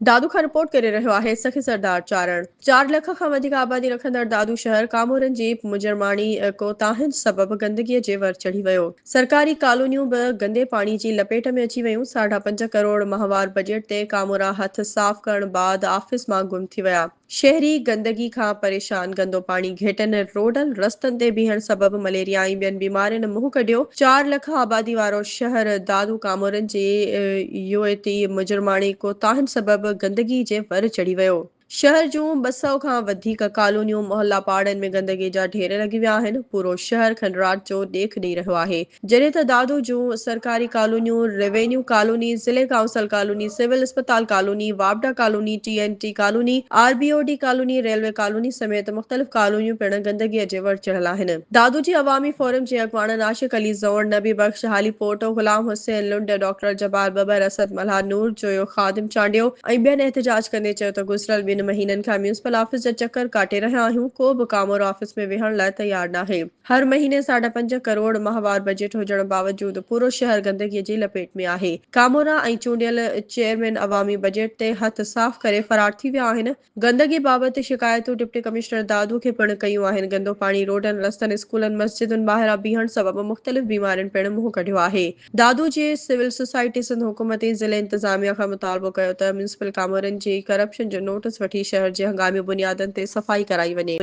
دادو کان رپورٽ ڪري رهيو آهي سخي سردار چارڻ. چار لک کان وڌيڪ آبادي رکندڙ دادو شهر ڪامورن جي مجرماڻي ڪوتاهين سبب گندگي جي ور چڙهي ويو. سرڪاري ڪالونيون به گندي پاڻي جي لپيٽ ۾ اچي ويون. ساڍا پنج ڪروڙ ماهوار بجيٽ تي ڪامورا هٿ صاف ڪرڻ بعد آفيس مان گم ٿي ويا. شهري گندگي کان پريشان، گندو پاڻي، گهٽن ۽ روڊن رستن تي بيهڻ سبب مليريا ۽ ٻين بيمارين منهن ڪڍيو، چار لک آبادي وارو شهر دادو ڪامورن جي يوئتي مجرماڻي ڪوتاهن سبب گندگي جي ور چڙهي ويو، شهر جون ٻه سؤ کان وڌيڪ ڪالونيون، محلا پاڙن ۾ گندگي جا ڍير لڳي ويا آهن، پورو شهر کنڊرات جو ڏيک ڏئي رهيو آهي، جڏهن ته دادو جون سرڪاري ڪالونيون، روينيو ڪالوني، ضلعي ڪائونسل ڪالوني، سول اسپتال ڪالوني، واپڊا colony, T N T colony, R B O D colony, railway colony سميت مختلف ڪالونيون پڻ گندگيء جي وڙ چڙهيل آهن. دادو جي عوامي فورم جي اڳواڻن عاشق علي زئوڻ، نبي بخش هاليپوٽو، غلام حسين لنڊ، ڊاڪٽر جبار ٻٻر، اسد ملهار، نور جويو، خادم چانڊيو ۽ ٻين احتجاج ڪندي چيو ته گذريل ٻن مهينن کان ميونسپل آفيس جا چڪر ڪاٽي رهيا آهيون، ڪو به ڪامورو آفيس ۾ ويهڻ لاء تيار ناهي. هر مهيني ساڍا پنج ڪروڙ ماهوار بجيٽ هجڻ باوجود پورو شهر گندگي جي لپيٽ ۾ آهي، ڪامورا ۽ چونڊيل چيئرمين عوامي بجيٽ تي هٿ صاف ڪري فرار ٿي ويا آهن، گندگي بابت شڪايتون ڊپٽي ڪمشنر دادو کي پڻ ڪيون آهن، گندو پاڻي روڊن، رستن، اسڪولن، مسجدن ٻاهران بيهڻ سبب مختلف بيمارين پڻ منهن ڪڍيو آهي، دادو جي سول سوسائٽي سنڌ حڪومت ۽ ضلعي انتظاميا کان مطالبو ڪيو ته ميونسپل ڪامورن جي ڪرپشن جو نوٽس وٺي شهر جي هنگامي بنيادن تي صفائي ڪرائي وڃي.